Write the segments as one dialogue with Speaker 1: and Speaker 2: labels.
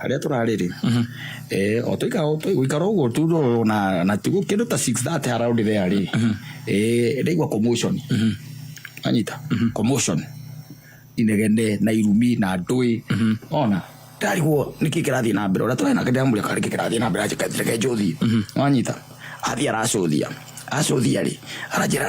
Speaker 1: harĩa tũrarĩ rĩ eh, o tũikara o tũ- gũikara ũguo tu ro- na na tigu kĩndũ ta 6:30 haraũndi there rĩ eh, ndaigua commotion anyita commotion inegene na irumi na ndũĩ ona ndarigwo nĩkĩ kĩrathiĩ na mbere ũrĩa tũrarĩ nake ndĩramũria kana nĩkĩ kĩrathiĩ na mbere anjĩka reke njũthie wanyita athiĩ aracũthia acũthia rĩ aranjĩra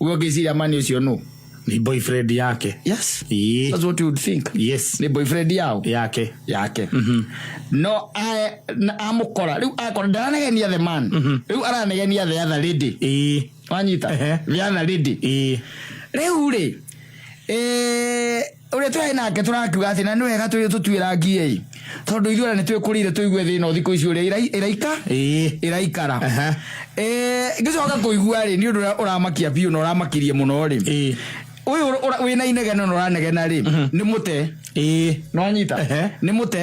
Speaker 1: Uwe ũngĩciria mani ũcio nũ? ni boyfriend
Speaker 2: yake Yes. Ii. That's
Speaker 1: what you would think. yes Nĩ boyfriend
Speaker 2: yao?
Speaker 1: yake yake no ae- na amũkora rĩu akora ndaranegenia the man rĩu aranegenia the other lady Ii. wanyita Ehe. the other lady Ii. rĩu rĩ eh, ũrĩa tũraĩ nake tũrakiuga atĩ na nĩ wega twĩ tũtuĩra ngiĩ tondũ ithuĩ ona nĩ twĩkũrĩire tũigue thĩna ũthikũ ici ũrĩa ĩrai- ĩraika Ĩĩ. ĩraikara Aha. Eh, ngĩcoka kũigua rĩ nĩ ũndũ ũrĩa ũramakia biũ na ũramakirie mũno rĩ Ĩĩ. ũyũ ũra- ũra- wĩna inegene na ũranegena rĩ nĩ mũte Ĩĩ. nĩwanyita Ehe. nĩ mũte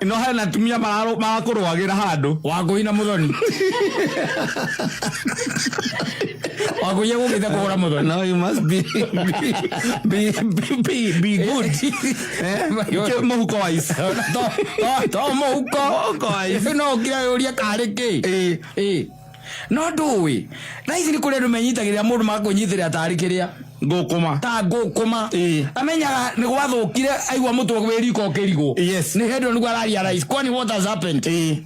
Speaker 1: ino hena atumia
Speaker 2: mararu- marakũrũagĩra handũ
Speaker 1: wakũi
Speaker 2: na mũthoni
Speaker 1: wakũia gũgĩte kũgũra mũthoni Now you must be
Speaker 2: be be be, be good. Eh? Kĩ- Mũhuko wa ici. to
Speaker 1: mũhuko no ũkira yũria karĩ kĩ Eh, Ĩ. No ndũũĩ, thaa ici nĩ kũrĩ andũ menyitagĩrĩra mũndũ magakũnyitĩrĩra tarĩ kĩrĩa ngũkũma ta
Speaker 2: ngũkũma
Speaker 1: Ĩĩ. amenyaga nĩ gwathũkire aigua mũtwe wĩ riko ũkĩrigwo Yes. nĩ hĩndĩ nĩguo araria rais kwani what has happened Ĩĩ.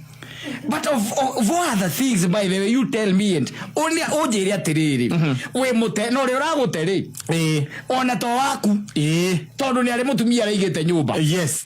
Speaker 1: but of, of what are the things by the way you tell me and ũnĩ- ũnjĩre atĩrĩrĩ wĩ mũte na ũrĩa ũragũte rĩ Ĩĩ. ona to waku Ĩĩ. tondũ nĩ arĩ mũtumia araigĩte nyũmba Yes.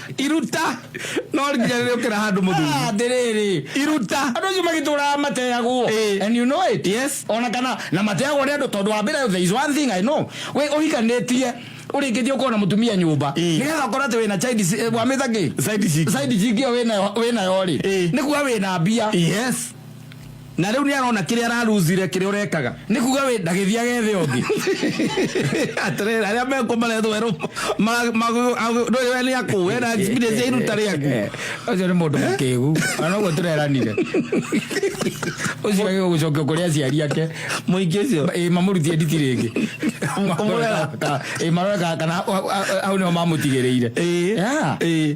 Speaker 2: iruta no nginya rä rä å kä ra handå må thuri Ah, ndĩrĩrĩ
Speaker 1: iruta andå acio
Speaker 2: magĩtũraga
Speaker 1: mateyagwo Eh. and you know it Yes. ona kana na mateyagwo nĩ andå tondå wa mbere there is one thing I know we ũhikanĩtie ũrĩkĩtie ũkorwo na mũtumia nyũmba Eh. nĩgetha ũkorwo atĩ wĩna child si- eh, wamĩtha kĩ Side chick. side chick ĩyo wĩnayo- wĩnayo rĩ Eh. nĩ kuga wĩna mbia yes
Speaker 2: Na rĩu nĩarona kĩrĩa araruzire kĩrĩa ũrekaga. Nĩ kuga wĩ ndagĩthiage
Speaker 1: thĩ ũngĩ.
Speaker 2: Atĩrĩrĩ arĩa mekwo marethwo erũ ma- ma- ndũĩ we nĩ akũ we na experience ya iruta rĩaku. Ũcio nĩ mũndũ
Speaker 1: mũkĩgu. Ona ũguo tũreranire. Ũcio agĩrĩirwo gũcokio kũrĩ aciari ake. Mũingĩ ũcio.
Speaker 2: Ĩĩ mamũrutie nditi rĩngĩ.
Speaker 1: Kũmũrera. Ĩĩ marore kana- kana hau nĩho mamũtigĩrĩire. Ĩĩ. Yeah. Ĩĩ.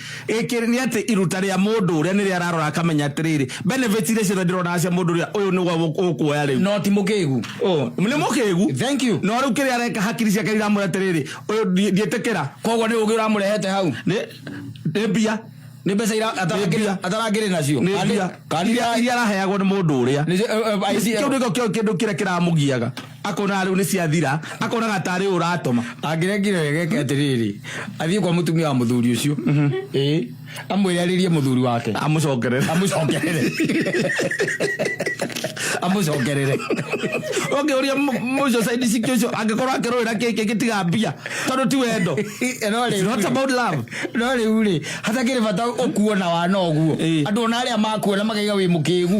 Speaker 2: Gĩkĩ nĩ atĩ iruta rĩa mũndũ ũrĩa nĩ rĩo ararora akamenya atĩrĩrĩ, benefits iria ciothe ndĩronaga cia mũndũ ũrĩa ũyũ nĩguo gũ- ũkuoya rĩu. no ti mũkĩgu
Speaker 1: Oh, nĩ mũkĩgu
Speaker 2: Thank you. no rĩu kĩrĩa
Speaker 1: areka hakiri
Speaker 2: ciake iramwĩra atĩrĩrĩ ũyũ ndi- ndiĩtĩkĩra koguo nĩ ũgĩ
Speaker 1: ũramũrehete hau nĩ nĩ mbia
Speaker 2: nĩ mbeca ira-
Speaker 1: atara- Nĩ mbia. atarangĩrĩ nacio nĩ Kandi- mbia kandi iria ya- iria
Speaker 2: araheagwo nĩ mũndũ ũrĩa nĩ- eh, eh, ICL. kĩu nĩkĩo kĩo- kĩndũ kĩrĩa kĩramũgiaga Akonaga rĩu nĩ ciathira, akonaga tarĩ ũratũma. Angĩregire wega eke
Speaker 1: atĩrĩrĩ, athiĩ kwa mũtumia wa mũthuri ũcio. Mhm. Ĩĩ. Amwĩre arĩrie mũthuri wake. Amũcokerere. Amũcokerere. Amũcokerere. Ũngĩũria
Speaker 2: mũcio side ciki ũcio angĩkorwo akĩrũĩra kĩkĩ gĩtiga mbia tondũ ti wendo. No rĩu. Not about love. No rĩu rĩ,
Speaker 1: hatakĩrĩ bata ũkuona wana ũguo. Andũ ona arĩa makuona makaiga wĩ mũkĩgu.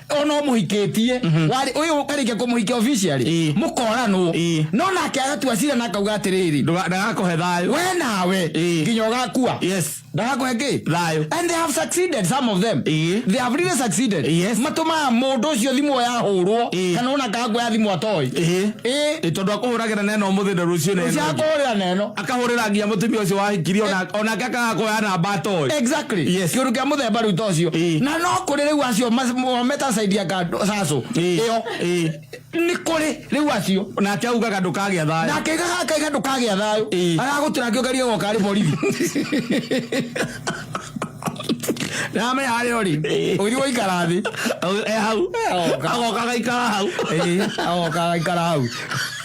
Speaker 1: ona umuhikitie wari uyu ukarikia kumuhikia officially Ĩĩ. mukoranwo Ĩĩ. no nake agatua cira na akauga atiriri Ndũga- ndagakũhe thayũ
Speaker 2: we nawe Ĩĩ.
Speaker 1: nginya ugakua yes ndagakũhe ki thayũ and they have succeeded some of them Ĩĩ. they have really succeeded Yes. matumaga mundu ucio thimu yahurwo Ĩĩ. kana ona kangwa ya thimu atoi Ĩĩ. ĩ Ĩ, tondũ
Speaker 2: akũhũragĩra nena ũmũthĩ na rũciũ nena ũngĩ. ciakũhurira neno
Speaker 1: akahurira nginya mutumia
Speaker 2: ucio wahikirie ona onake akagakoya namba atoe exactly Yes. kiundu kia
Speaker 1: muthemba riu tocio Ĩĩ. na no kuri riu acio metasaidia sacu Ĩĩ. iyo Ĩĩ. ni kuri riu acio nake augaga ndukagĩa
Speaker 2: thayũ nake gagakaiga
Speaker 1: ndukagĩa thayũ Ĩĩ. agagutira ngio karia goka ari borithi name harä å rä å thiä waikara thä Au- e hau
Speaker 2: Oka. agoka agaikara hau agoka
Speaker 1: agaikara hau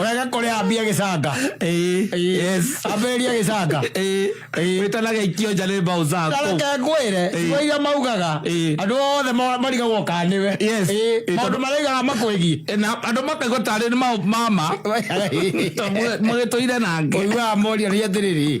Speaker 1: Ũrega kũrĩa ambia gĩcanga. Ĩĩ. Ĩĩ. Yes. Ambĩrĩria gĩcanga. Ĩĩ. Ĩĩ. Wĩta na
Speaker 2: geikio nja nĩ mbaũ zaku. Tareke ngwĩre Ĩĩ.
Speaker 1: igo iria maugaga Ĩĩ. andũ othe ma- marigagwo kana nĩwe. Yes. Ĩĩ. Ĩĩ, Maũndũ tondũ- maraigaga makwĩgiĩ. Na andũ makaigua
Speaker 2: tarĩ nĩ ma- mama. Mũgĩtũire nake. Ũiguaga moria nĩ atĩrĩrĩ.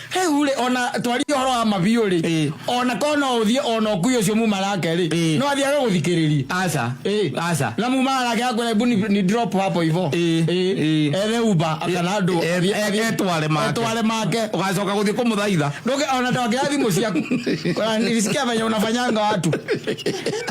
Speaker 1: rĩu rĩ ona twarie ũhoro wa mabiũ rĩ Ĩĩ. ona korwo no ũthiĩ ona ũkui ũcio muma nake rĩ Ĩĩ. no athiage gũthikĩrĩria aca Ĩĩ. aca
Speaker 2: na mumana nake
Speaker 1: akwĩra hebu ni, ni drop hapo hivo Ĩĩ. Ĩĩ. ethe uba kana andũ Ĩ- athiĩ- ĩ- athiĩ- etware make. etware make ugacoka guthii kumuthaitha
Speaker 2: Nduge ona tawakira
Speaker 1: thimu ciaku. Kuna- Nilisikia venye unafanyanga watu.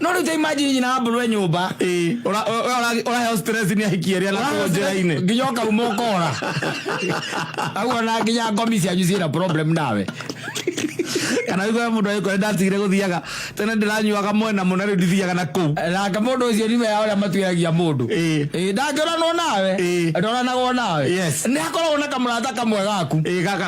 Speaker 2: no riu
Speaker 1: ta imagine nyina wa mburwe nyumba Ĩĩ. Ura- ura- ura-
Speaker 2: uraheo stress ni ahiki eria na kuo njira-ini nginya ukauma ukora
Speaker 1: aguo na nginya ngomi cianyu ciina problem nawe
Speaker 2: kana wigwe mundu agikore ndatigire guthiaga tene ndiranyuaga mwena muna riu ndithiaga na kuu nake mundu ucio nime
Speaker 1: ya uria matuiragia mundu Ĩĩ. Ĩĩ, ndangĩoranwo nawe Ĩĩ. ndoranagwo nawe Yes. nĩ hakoragwo na kamũrata kamwe gaku Ĩĩ, gaka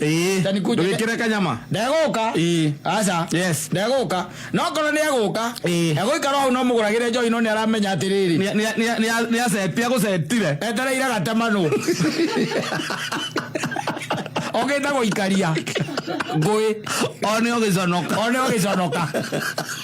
Speaker 1: Ĩĩ, Tani kuja-
Speaker 2: ndũgĩkĩre kanyama ndegũka Ĩĩ.
Speaker 1: aca Yes. ndegũka no korwo nĩ egũka Ĩĩ. egũikara hau no mũgũragĩre njohi no nĩ aramenya atĩrĩrĩ Nĩ- nĩ- nĩ- nĩ- nĩ
Speaker 2: acetia gũcetire etereire gatemanũ
Speaker 1: ogĩte gũikaria ngũĩ one
Speaker 2: ũgĩconoka one ũgĩconoka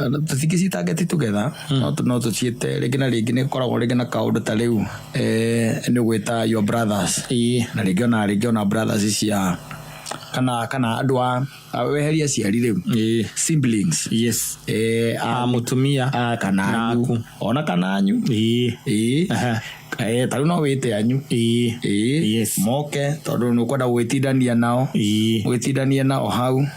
Speaker 1: Tũtingĩ ci target together no tũciĩte rĩngĩ na rĩngĩ nĩ gũkoragwo rĩngĩ na kaũndũ ta rĩu nĩ ũgwĩta your brothers na rĩngĩ ona rĩngĩ ona brothers cia kana kana andũ a weherie aciari rĩu siblings a mũtumia
Speaker 2: kana anyu
Speaker 1: ona kana anyu ta rĩu no wĩte anyu moke tondũ nĩ ũkwenda gũgĩtindania nao ũgĩtindanie nao hau.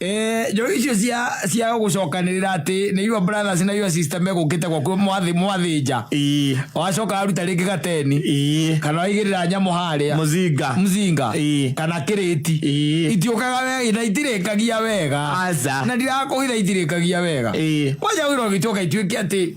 Speaker 1: Eh, njoro icio cia cia gucokanirira ati ni your brothers na your sister megukite gwaku mwathi mwathinja ii wacoka aruta ringi gateni ii kana waigirira nyamu haria muzinga mzinga Ii. kana kiriti Ii. itiukaga wega na itirikagia wega Aca. na ndirakuhitha itirikagia wega Ii. waja wira ugituka ituike ati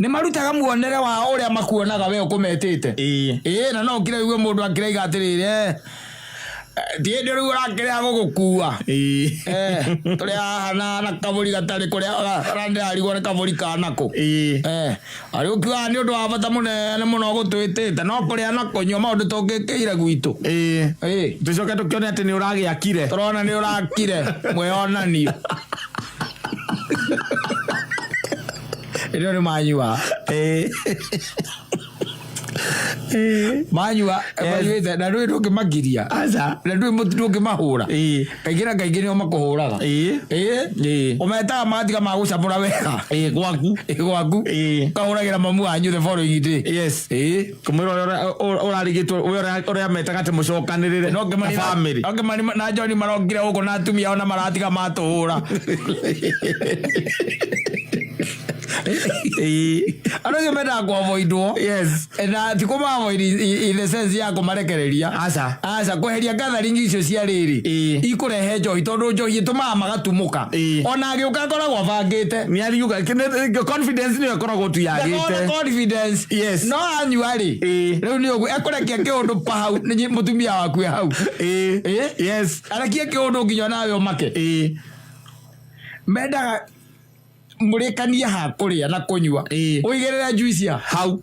Speaker 1: Nĩ marutaga muonere wa ũrĩa makuonaga we ũkũmetĩte. Ĩĩ. Ĩĩ na no ũkire ũigue mũndũ akĩraiga atĩrĩrĩ eh, ti hĩndĩ rĩu ũrakĩrĩa gũgũkua. Ĩĩ. Eh, tũrĩ haha na na kabũri gatarĩ kũrĩa ũrandĩrarigwo nĩ kabũri ka nakũ. Ĩĩ. Eh, arĩ ũkiugaga nĩ ũndũ wa bata mũnene mũno gũtwĩtĩte no kũrĩa na kũnyua maũndũ tũngĩkĩire gwitũ. Ĩĩ. Ĩĩ. Tũcoke
Speaker 2: tũkĩone atĩ nĩ ũragĩakire. Tũrona nĩ ũrakire
Speaker 1: mwĩonanio. Ĩno nĩ manyua. Manyua, manyuĩte, na ndũĩ ndũngĩmagiria. Aca. Na ndũĩ mũtu ndũngĩmahũra. Ĩĩ. Kaingĩ na kaingĩ nĩo makũhũraga. Ĩĩ. Ĩĩ. Ĩĩ. Ũmetaga matiga ma gũcamũra wega. Ĩĩ, gwaku. Ĩĩ, gwaku. Ĩĩ. Ũkahũragĩra mamu wanyu the following day. Yes. Ĩĩ. Kũmwĩra ũrĩa ũra- ũra-
Speaker 2: ũrarigitwo ũrĩa ũra- ũrĩa metaga atĩ mũcokanĩrĩre na famĩlĩ ongemani na joni marokire
Speaker 1: gũkũ na atumia ao na maratiga matũhũra andå acio mendaga kwavoidwo Yes. na ti kå mavoid in the sense ya kå marekereria Aca. aca kå heria gathering icio cia rä rä Ĩĩ. ikå rehe njohi tondå njohi ä tå maga magatumå ka Ĩĩ. ona agä å ka ngoragwo abangä te nä ariuga
Speaker 2: confidence nä akoragwo tu Ndakorwo na yagĩte confidence Yes.
Speaker 1: no anyua rĩ Ĩĩ. rĩu nĩ ũguo ekũrekia kĩũndũ pa hau nĩ mũtumia waku e hau Ĩĩ. Ĩĩ. yes arekie kĩũndũ nginya nawe ũmake Ĩĩ. mendaga mũrĩkanie ha kũrĩa na kũnyua Ĩĩ. ũigĩrĩre juicia hau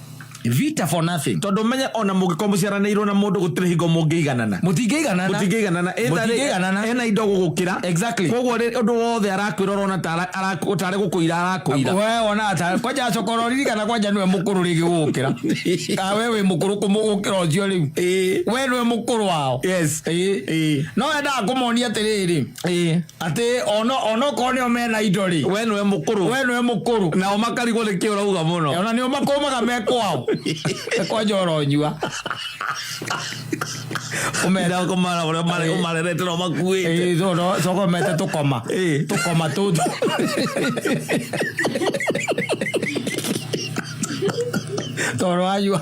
Speaker 1: Vita for nothing. Tondũ menye ona mũngĩkorwo
Speaker 2: mũciaranĩirwo na mũndũ gũtirĩ hingo mũngĩiganana. Mũtingĩiganana. Mũtingĩiganana. Mũtingĩiganana. Ena indo gũgũkĩra. Exactly. Koguo
Speaker 1: ũndũ wothe
Speaker 2: arakwĩra ũrona tarĩ gũkũira arakũira. Wewe wonaga ta
Speaker 1: kwanja acoka ũroririkana kwanja nĩwe mũkũrũ rĩngĩ gũgũkĩra. Kana wewe wĩ mũkũrũ kũmũgũkĩra ũcio rĩu. Wewe nĩwe mũkũrũ wao. Yes.
Speaker 2: No
Speaker 1: endaga kũmonia atĩrĩrĩ. Ĩĩ. atä onokorwo nä o mena indo rä we nĩwe mũkũrũ we
Speaker 2: nä må kå rå nao makarigwo nĩ kĩ ũrauga mũno ona nä o makåmaga me
Speaker 1: kwao ekwa njora å nyua
Speaker 2: menda kũmara ũrĩa mare- Ĩĩ. ũmarerete no makuĩte coka mete
Speaker 1: tå koma Ĩĩ. tå koma tå thũ tondå wanyua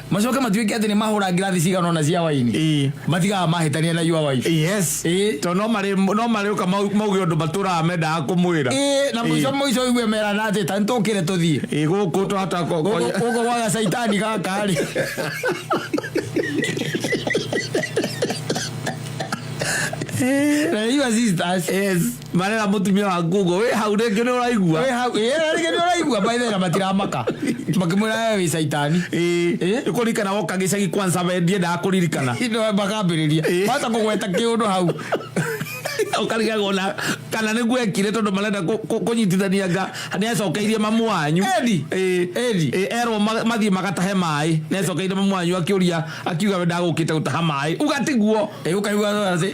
Speaker 1: macoke matuĩke atĩ nĩ mahũra ngirathi cigana ona cia waini Ĩĩ. matigaga mahĩtania na your wife yes Ĩĩ. to no
Speaker 2: marĩ no marĩ ũka mau- mauge ũndũ matũraga mendaga kũmwĩra Ĩĩ, na mũico Ĩĩ. mũico
Speaker 1: igue merana atĩ ta nĩtũkĩre tũthiĩ Ĩĩ, gũkũ twahota ko-
Speaker 2: ko- gũkũ gwa
Speaker 1: gacaitani gaka rĩ na nĩ your sisters yes marera
Speaker 2: mutumia wa ngugo wi hau ringi ni uraigua we hau eh rĩngĩ nĩ
Speaker 1: ũraigua maithera matiramaka makĩmwĩra we wĩ caitani Eh? ni kuririkana
Speaker 2: woka gicagi kwanza we ndiendaga kuririkana Ino makambĩrĩria
Speaker 1: Eh. wahota kũgweta kĩũndũ hau
Speaker 2: ukarigagwo na kana nä gwekire tondå marenda kå- kå- kũnyitithania nga nä acokeirie mamu wanyu Edi. Edi. erwo ma- mathiĩ magatahe maĩ nä acokeirie mamu wanyu akä å ria akiuga we ndagũkĩte gũtaha maĩ uga tiguo ũkaiguaĩ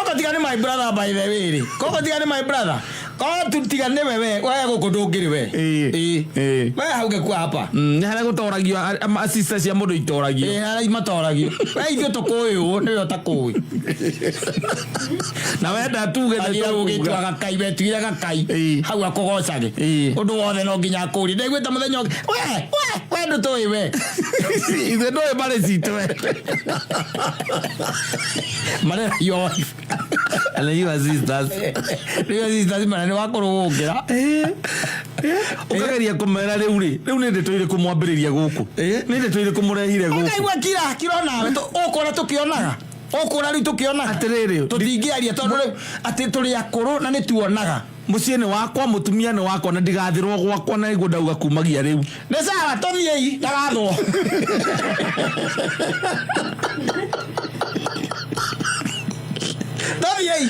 Speaker 1: oko tiga nĩ my brother by the way rĩ koko tiga nĩ my brother ko tiga nĩ we we we gũkũ ndũngĩrĩ we Ĩĩ. Ĩĩ. Ĩĩ. we hau gĩkua hapa Mm, nĩ harĩa gũtoragio
Speaker 2: a- a- a- sister cia mũndũ itoragio ĩĩ harĩa matoragio
Speaker 1: we ithuĩ tũkũyũ nĩwe ũtakũĩ
Speaker 2: na wenda tuge nĩ athira gũgĩtua tũkuga. gakai
Speaker 1: wetigire gakai Ĩĩ. hau akũgocage Ĩĩ. ũndũ wothe no nginya akũri ndaiguĩte mũthenya ũngĩ we we we ndũ tũĩ we ithe
Speaker 2: ndũĩ mbarĩ citũ we
Speaker 1: marera yo and then
Speaker 2: you are sisters rĩu sisters
Speaker 1: mara nĩ wakũrũgũkĩra ũkageria
Speaker 2: kũmera rĩu rĩ rĩu nĩ ndeto irĩkũ mwambĩrĩria gũkũ nĩ ndeto irĩkũ mũrehire gũkũ ũkaigua kira kira
Speaker 1: nawe ũkona tũkĩonaga ũkũra rĩu tũkĩona Atĩrĩrĩ. tũtingĩaria
Speaker 2: tondũ rĩu
Speaker 1: atĩ tũrĩ akũrũ na nĩ tuonaga mũciĩ nĩ wakwa
Speaker 2: mũtumia nĩ wakwa na ndigathĩrwo gwakwa na nĩguo ndauga kumagia rĩu nĩ sawa tũthiei
Speaker 1: ndagathwo tũthiei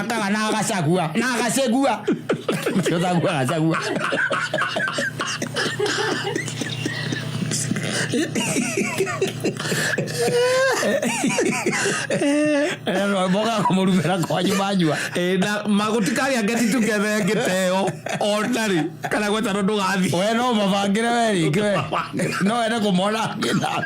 Speaker 1: Tanga na agacagua na agacegua Ũcio thagua agacagua moga kũmũrumĩra kwanyu manyua Eh, na
Speaker 2: magũtikagĩa ngeti tũgethe ngĩteo onarĩ kana gwetano ndũgathiĩ we no mabangĩre
Speaker 1: we rĩngĩ we no wende kũmona angĩ nawe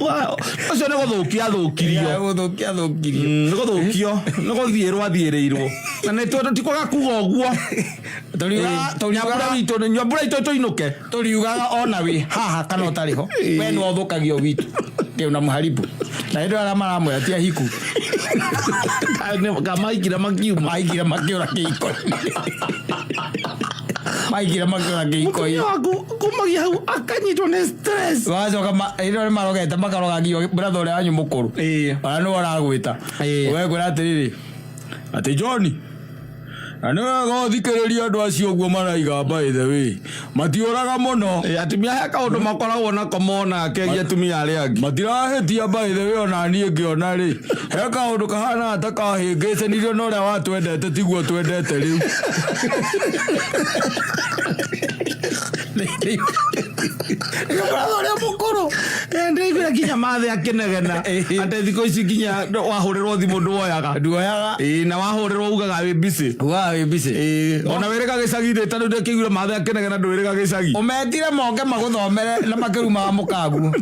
Speaker 2: Wa- ũcio nĩ gũthũkia Ya,
Speaker 1: athũkirio
Speaker 2: gũthũkia thũkirio Mm, nĩ gũthũkio
Speaker 1: nĩ gũthiĩrwo
Speaker 2: athiĩrĩirwo na nĩ tondũ ti kwaga kuga ũguo Tũriugaga- nyambura tũriugaga- witũ nyambura itũ tũinũke tũriugaga ona
Speaker 1: wĩ haha kana ũtarĩ ho we nĩ wathũkagio witũ rĩu na mũharibu na hĩndĩ arĩa maramwĩra ti ahiku
Speaker 2: kamaikire makiuma maigire makĩũra
Speaker 1: kĩhiko maigire makĩũra kĩhiko mũtumia waku
Speaker 2: kuma gä hau akanyitwo nä stress wacoka ma- hĩndĩ ĩyo
Speaker 1: nĩ marogete makaroga nginya bratha ũrĩa wanyu mũkũrũ Ĩĩ. ona nĩ waragwĩta Ĩĩ. wekwĩra atĩrĩrĩ atĩ johni na nĩ wega ũthikĩrĩria andũ acio ũguo maraiga by the way matiũraga mũno Ĩ, atumia he kaå ndå
Speaker 2: makoragwo nako mona akegia atumia arä angä matirahĩtia by
Speaker 1: the way ona niĩ ngĩona rĩ he kaũndũ kahana ta kahĩngĩcanirio na ũrĩa watwendete tiguo twendete rĩu Nĩgũkoragwo ũrĩa mũkũrũ ndaigua nginya
Speaker 2: mathĩ akĩnegena atĩ thikũ ici nginya wahũrĩrwo thimũ nduoyaga nduoyaga Ĩĩ, na wahũrĩrwo ugaga wĩ busy ugaga wĩ busy Ĩĩ, ona wĩrĩga gĩcagi-inĩ ta rĩu ndĩkĩiguire mathĩ akĩnegena ndwĩrĩga gĩcagi ũmetire moke
Speaker 1: magũthomere na makirumaga mũkaguo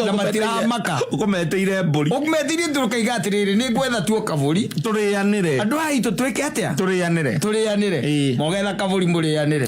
Speaker 1: na matiramaka ũkũmeteire
Speaker 2: mbũri ũmetirie tũkaiga
Speaker 1: atĩrĩrĩ nĩ ngwetha tuo kabũri tũrĩanĩre andũ
Speaker 2: aitũ twĩke atĩa
Speaker 1: tũrĩanĩre tũrĩanĩre
Speaker 2: Ĩĩ.
Speaker 1: mogetha kabũri mũrĩanĩre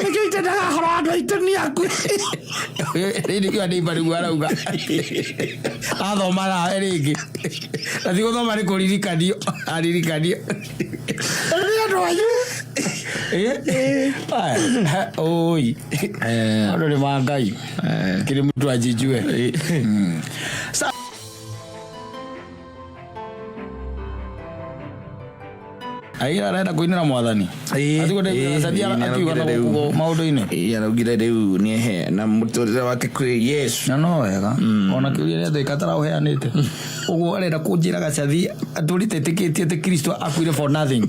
Speaker 2: nĩkĩite ndagahora andå aitå nä aku
Speaker 1: rĩu anĩimba nĩguo arauga athomaga rĩngĩ na ti gũthoma nĩ kũririkanio aririkanio nä andå anyu oi andå nä ma ngai kä rä må tu anjinjue Aira arenda kuinira mwathani. Ĩĩ, Atiko ndio ĩĩ, asadia ĩĩ, akiwa na nĩaraugire rĩu. gukugo maundu-ini. Ĩĩ, araugire rĩu
Speaker 2: nĩ ehe na mũtũrĩre wake kwĩ yesu Na no wega.
Speaker 1: Ona kiuria ria thika taraheanite. Uguo arenda kunjira gacathi aturi tetikitie ati Kristo akuire for nothing.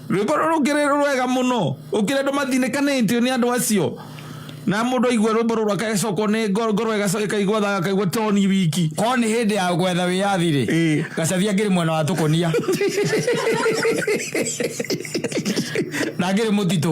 Speaker 1: rwĩmbo rũrũ rũngĩrĩ
Speaker 2: rwega mũno ũkĩrĩ andũ mathinĩkanĩtio nĩ andũ acio na mũndũ aigua rwĩmbo rũrũ akagĩcokwo nĩ ngoro ngoro ĩgacoka ĩkaigua thaga akaigua toni wiki korwo nĩ hĩndĩ ya gwetha
Speaker 1: wĩyathi rĩ Ĩĩ. gacabi angĩrĩ mwena wa tũkonia na angĩrĩ mũtitũ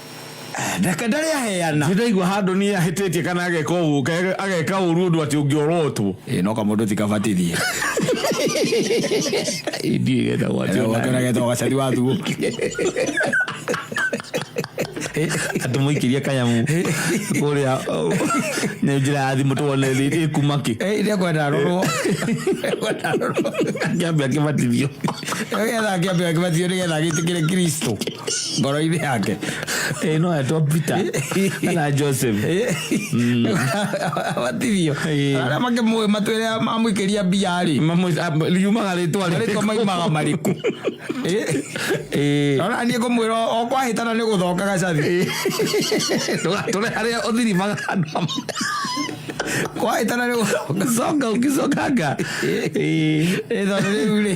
Speaker 1: Reke ndarĩ aheana. Nĩ ndaigua handũ niĩ
Speaker 2: ahĩtĩtie kana ageka ũũ ageka ũru ũndũ atĩ ũngĩorotwo. Ĩĩ no kamũndũ ti
Speaker 1: kabatithie.
Speaker 2: Indiĩ getagwo atĩ ona getagwo
Speaker 1: gacari wa thuo.
Speaker 2: Atĩ mũikĩrie kanyamu kũrĩa nĩ njĩra ya thimũ tuone ĩkuma kĩ. Ĩrĩa kwenda arorwo.
Speaker 1: Akĩambia
Speaker 2: akĩbatithio. Nĩgetha
Speaker 1: akĩambia akĩbatithio nĩgetha agĩtĩkĩre Kristo. kpọrọ ibe ha ke ịnụ atọ
Speaker 2: pita na josef
Speaker 1: abatithio arĩa mangĩ mũĩ matwĩre amwĩkĩria mbiarĩ yumaga rĩtwa
Speaker 2: rĩtwa maimaga marĩkũ
Speaker 1: ona niĩ ngũmwĩra o kwahĩtana nĩ gũthoka gacathi
Speaker 2: ndũgatũre harĩa ũthirimaga andũ
Speaker 1: kwahĩtana nĩ gũthoka coka
Speaker 2: ũkĩcokanga
Speaker 1: ĩthondũ rĩu rĩ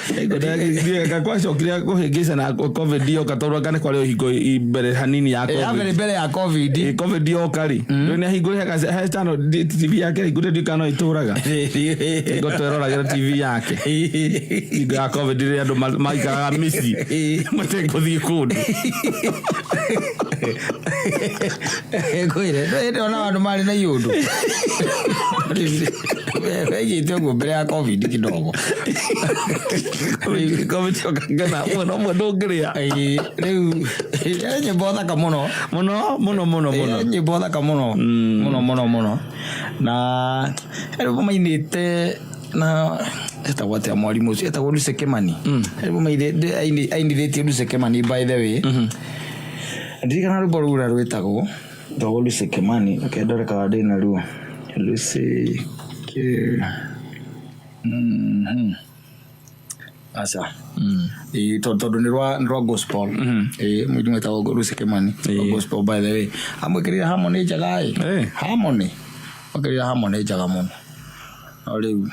Speaker 1: gakwacwo
Speaker 2: kiria kuhingica na covid yoka tondu anga ni kwari uhingo mbere hanini ya covid yabere mbere ya covid
Speaker 1: eh, covid yoka ri mm. riu
Speaker 2: ni ahingure haka he channel tv yake hingure ndi kana ituraga ngo tweragira tv yake hingo ya covid ri andu maikaraga misi matekuthii kundu
Speaker 1: kwire ndona andu mari na iundu Wejite ũguo mbere ya covid kidogo
Speaker 2: ngona mwana ũmwe ndũngĩrĩa Ĩĩ, rĩu
Speaker 1: ĩĩ, nyĩmbo thaka mũno mũno mũno mũno mũno Ĩĩ, nyĩmbo thaka mũno mũno mũno mũno na rĩu mainĩte na etagwo atĩa mwarimũ ũcio etagwo Lucy Kimani rĩu mainĩte ainithĩtie Lucy Kimani by the way ndirikana rwĩmbo rũu ũrĩa rwĩtagwo Though Lucy Kimani reke ndore kana ndĩ na ruo. Lucy Ki... Mhm. Aca. Ĩĩ, to- tondũ nĩ rwa nĩ rwa gospel. Ĩĩ, mũini wĩtagwo Lucy Kimani. Wa gospel by the way. Amwĩkĩrĩire harmony njega ĩ. Ĩĩ. Harmony. Amwĩkĩrĩire harmony njega mũno. O rĩu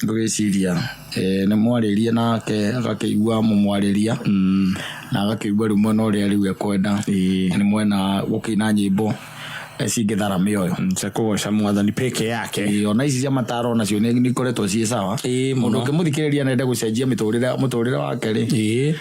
Speaker 1: ngũgĩciria eh, nĩ mwarĩria nake agakĩigua mũmwarĩria na agakĩigua rĩu mwena ũrĩa rĩu ekwenda nĩ mwena gũkĩina nyĩmbo eh, cingĩthara mĩoyo cia kũgoca mwathani
Speaker 2: peke yake Ĩĩ, ona ici cia mataro
Speaker 1: nacio nĩ nĩ ikoretwo ciĩ sawa Ĩĩ, mũno. mũndũ ũkĩmũthikĩrĩria nende gũcenjia mĩtũrĩre mũtũrĩre wake rĩ ĩĩ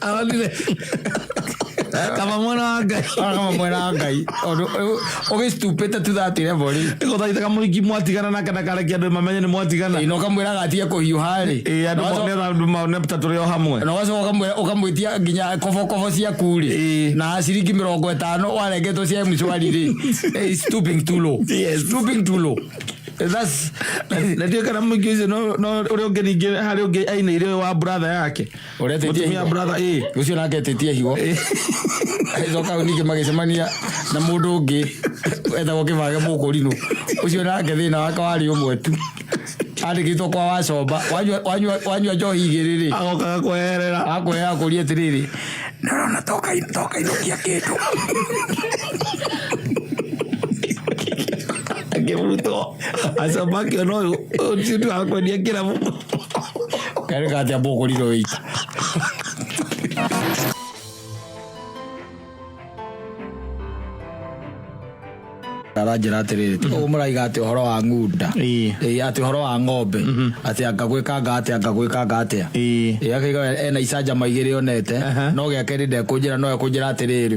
Speaker 1: Aonire. Kaba mwana wa Ngai. Akaba mwana wa Ngai. Ũndũ ũyũ ũgĩstupĩte tu that level rĩ. Ĩgũthaitha kamũhiki
Speaker 2: mwatigana nake ndakarekia andũ mamenye nĩ mwatigana. Ĩĩ na ũkamwĩraga atige
Speaker 1: kũhiũha rĩ. Ĩĩ andũ nĩgetha andũ mone
Speaker 2: ta tũrĩ o hamwe. Na ũgacoka ũkamwĩra
Speaker 1: ũkamwĩtia nginya kobokobo ciaku rĩ. Ĩĩ. Na ciringi mĩrongo ĩtano warengetwo cia mshwari rĩ. Ĩĩ, stooping too low. Yes. Stooping too low. That's na ndiũĩ
Speaker 2: kana mũingĩ ũcio no no ũrĩa ũngĩ ningĩ harĩ ũngĩ ainĩire ũyũ wa brother yake Ũretetie Mũtumia higo.
Speaker 1: brother, ĩĩ. Ũcio
Speaker 2: nake etetie
Speaker 1: higo. Agĩcoka hau ningĩ magĩcemania na mũndũ ũngĩ etagwo kĩbage mũkũrinũ. Ũcio nake thĩna wake warĩ ũmwe tu. Andĩkĩtwo kwa wacomba. Wanyua- wanyua- Wanyua njohi igĩrĩ rĩ agokaga kweherera
Speaker 2: akwĩra akũria atĩrĩrĩ
Speaker 1: nĩũrona toka toka inũkia kĩndũ
Speaker 2: akĩbutwo acamba akĩona ũyũ ũyũ ti ũndũ wa kwendia kĩrabu Kare
Speaker 1: ka tia boko lilo weiti. aranjĩra atĩrĩrĩ tiga ũguo mũraiga atĩ ũhoro wa ng'unda Ĩĩ. Ĩĩ, atĩ ũhoro wa ng'ombe atĩ anga gwĩkanga atĩa anga gwĩkanga atĩa Ĩĩ. Ĩĩ, akaiga ena icanjama igĩrĩ onete Aha. no gĩa kerĩ ndekũnjĩra no ekũnjĩra atĩrĩrĩ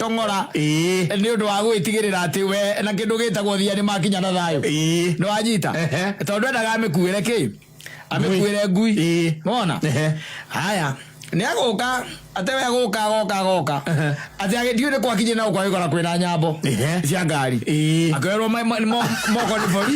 Speaker 1: tong'ora Ĩĩ. nĩ ũndũ wa gwĩtigĩrĩra atĩ we na kĩndũ gĩtagwo thia nĩ makinya na thayũ Ĩĩ. nĩ wanyita Ehe. tondũ endaga amĩkuĩre kĩ amĩkuĩre ngui Ĩĩ. mona Ehe. haya nĩ agũka atĩ we agũka agoka agoka Ehe. atĩ agĩthiĩ nĩ kwakinyĩ na gũkwa gĩkora kwĩna nyambo Ehe. cia ngari Ĩĩ. akerwo ma- ma- mo- moko nĩ bori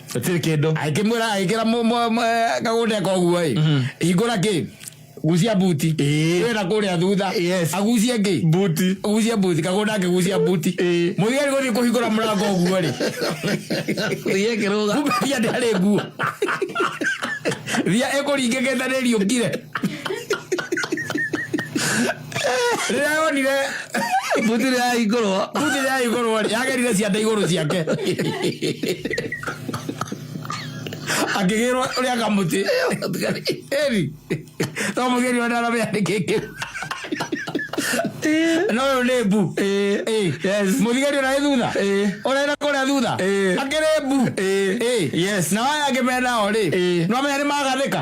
Speaker 1: gũtirĩ kĩndũ agĩkĩmwĩra agĩkĩra mũ- mũ- mũ- eh, kagũnde koguo ĩ hingũra kĩ gucia buti Ĩĩ. wĩra kũrĩa thutha Yes. agucie kĩ buti gucia buti kagũnda akĩgucia buti Ĩĩ. mũthigari gũthiĩ kũhingũra mũrango ũguo rĩ thiä kä rå ga kumbe thia ndarĩ nguo thia ĩkũringĩkĩte nĩ riũkire rĩrĩa yonire buti rĩrĩa yahingũrwo buti rĩrĩa yahingũrwo rĩ yagerire ciande igũrũ ciake akĩgĩrwo ũrĩa kamũtĩ eri no mũgĩri ona aramenya nĩkĩ kĩu no ũyũ nĩ mbu mũthigari ũrarĩ thutha ũrenda kũrĩa thutha akĩrĩ mbu na waya angĩmena o rĩ no amenya nĩ magathĩka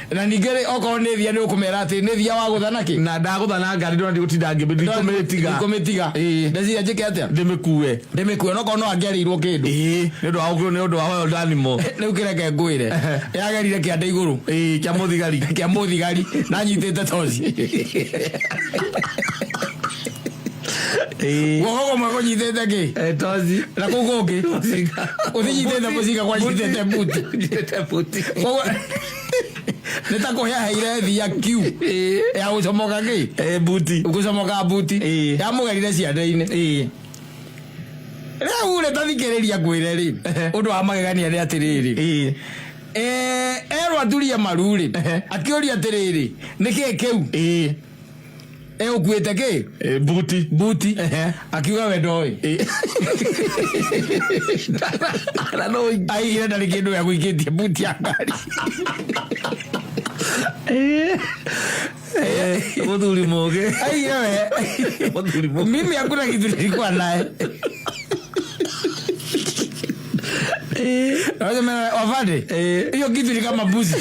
Speaker 1: Na ningĩ-rĩ, okorwo nĩ thia nĩũkũmera atĩrĩ, Nĩ thia wagũtha na kĩ? Na ndagũtha na ngari ndona ndigũtinda ngĩmĩthiĩ, ndikũmĩtiga. Ndikũmĩtiga. Ĩĩ. Ndeciria njĩke atĩa? Ndĩmĩkue. Ndĩmĩkue, onokorwo no angĩarĩirwo kĩndũ. Ĩĩ, nĩ ũndũ wa gũkĩrwo nĩ ũndũ wa oyo ndathimo. Rĩu kĩ reke ngwĩre, Ehe. yagerire kĩande igũrũ. Ĩĩ, kĩa mũthigari. Kĩa mũthigari, na anyitĩte toci. Eh. guoko kumwe kunyitĩte kĩ Eh, tozi na kũu kũngĩ ũthinyitĩte mũcinga kwanyitĩte buti Nyitĩte buti. Koguo, nĩ ta kũheaheire thi ya kiu Eh. ya gũcomoka kĩ Eh, buti gũcomoka buti Eh. yamũgerire ciande-inĩ Eh. rĩu rĩ tathikĩrĩria ngwĩre rĩ Ehe. ũndũ wa magegania nĩ atĩrĩrĩ Eh. Eh, erwo aturie maru rĩ Ehe. akĩũria atĩrĩrĩ nĩ kĩĩ kĩu Eh. e ukuite ki Eh, buti buti Ehe. akiuga we ndoĩ Eh, na no aigire ndarĩ kĩndũ gĩa gũikĩtie buti ya ngari muthuri mugi aigire we muthuri mugi mimi hakuna kitu nilikuwa naye Eh, Unasema, wavade Eh. hiyo kitu ni kama mbuzi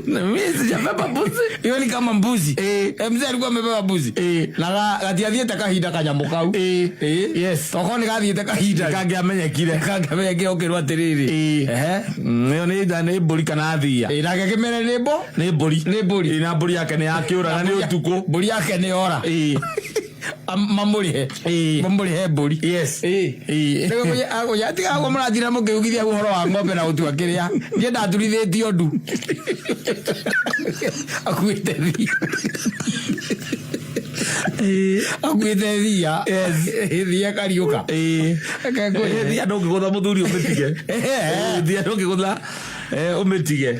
Speaker 1: na mimi sijabeba mbuzi. hiyo ni kama mbuzi Eh. Eh, mzee alikuwa amebeba mbuzi Eh. na ga- gatiathiĩte kahinda kanyamũ kau Eh. Eh. Yes. okorwo nĩ gathiĩte kahinda Kange amenyekire. kangĩmenya kĩo kĩrwo atĩrĩrĩ Eh. Ehe. Mm, ĩyo nĩ nda- nĩ mbũri kana thia Eh, nake kĩmere nĩ mbo nĩ mbũri Nĩ mbũri. Eh, na mbũri yake nĩ yakĩũra na nĩ ũtukũ mbũri yake nĩ ora Eh. Am- mamũrĩhe Ĩĩ. mamũrĩhe mbũri Yes. Ĩĩ. Ĩĩ. Nĩguo mũnye- agũnye- atiga agwo mũrathira mũkĩugithia ũhoro wa ng'ombe na gũtua kĩrĩa niĩ ndaturithĩtio ndu akuĩte thi akuĩte thia thia kariũka Ĩĩ. Ĩĩ, thia ndũngĩgũtha mũthuri ũmĩtige Ĩĩ, thia ndũngĩgũtha eh, ũmĩtige